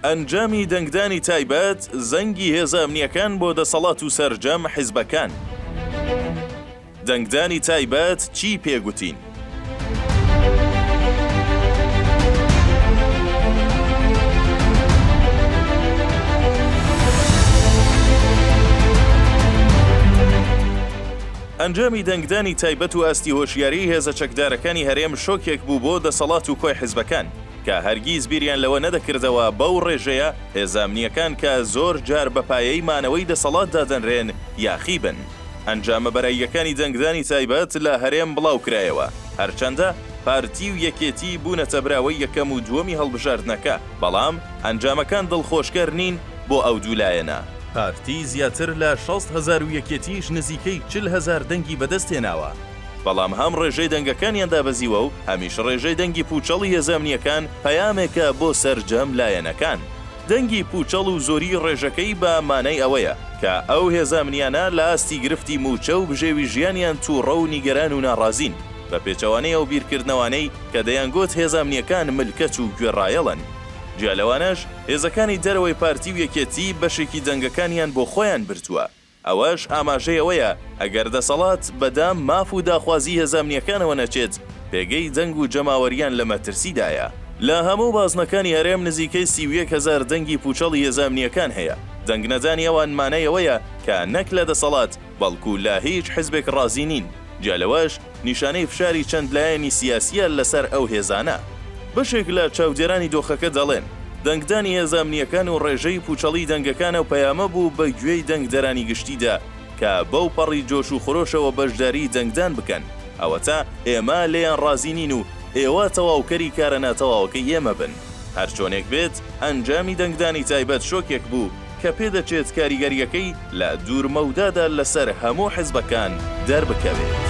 ئەنجامی دەنگدانی تایبەت، زەنگی هێزە ئەمنییەکان بۆ دەسەڵات و سەرجەم حیزبەکان. دەنگدانی تایبەت چی پێ گوتین؟ ئەنجامی دەنگدانی تایبەت و ئاستی هۆشیاریی هێزە چەکدارەکانی هەرێم شۆکێک بوو بۆ دەسەڵات و کۆی حیزبەکان. کە هەرگیز بیریان لەوە نەدەکردەوە بەو ڕێژەیە هێزە ئەمنییەکان کە زۆر جار بە پایەی مانەوەی دەسەڵات دادەنرێن یاخی بن. ئەنجامە بەراییەکانی دەنگدانی تایبەت لە هەرێم بڵاوکرایەوە، هەرچەندە پارتی و یەکێتی بوونەتە براوەی یەکەم و دووەمی هەڵبژاردنەکە، بەڵام ئەنجامەکان دڵخۆشکەر نین بۆ ئەو دوو لایەنە. پارتی زیاتر لە شەست هەزار و یەکێتیش نزیکەی چل هەزار دەنگی بەدەستهێناوە. بەڵام هەم ڕێژەی دەنگەکانیان دابەزیوە و هەمیش ڕێژەی دەنگی پووچەڵی هێزە ئەمنییەکان پەیامێکە بۆ سەرجەم لایەنەکان. دەنگی پووچەڵ و زۆریی ڕێژەکەی بە مانای ئەوەیە کە ئەو هێزە ئەمنییانە لە ئاستی گرفتی مووچە و بژێوی ژیانیان تووڕە و نیگەران و ناڕازین، بە پێچەوانەی ئەو بیرکردنەوانەی کە دەیانگوت هێزە ئەمنییەکان ملکەچ و گوێڕایەڵن. جیا لەوانەش هێزەکانی دەرەوەی پارتی و یەکێتی بەشێکی دەنگەکانیان بۆ خۆیان بردووە. ئەوەش ئاماژەی ئەوەیە ئەگەر دەسەڵات بە دام، ماف و داخوازیی هێزە ئەمنییەکانەوە نەچێت، پێگەی جەنگ و جەماوەرییان لە مەترسیدایە. لە هەموو بازنەکانی هەرێم نزیکەی سی و یەک هەزار دەنگی پووچەڵی هێزە ئەمنییەکان هەیە. دەنگ نەدانی ئەوان مانای ئەوەیە کە نەک لە دەسەڵات، بەڵکوو لە هیچ حزبێک ڕازی نین. جیا لەوەش، نیشانەی فشاری چەند لایەنی سیاسییە لەسەر ئەو هێزانە. بەشێک لە چاودێرانی دۆخەکە دەڵێن، دەنگدانی هێزە ئەمنییەکان و ڕێژەی پووچەڵی دەنگەکان ئەو پەیامە بوو بە گوێی دەنگدەرانی گشتیدا کە بەو پەڕی جۆش و خرۆشەوە بەشداریی دەنگدان بکەن، ئەوەتا ئێمە لێیان ڕازی نین و ئێوە تەواوکەری کارە ناتەواوەکەی ئێمە بن. هەرچۆنێک بێت، ئەنجامی دەنگدانی تایبەت شۆکێک بوو، کە پێدەچێت کاریگەرییەکەی لە دوورمەودادا لەسەر هەموو حزبەکان دەربکەوێت.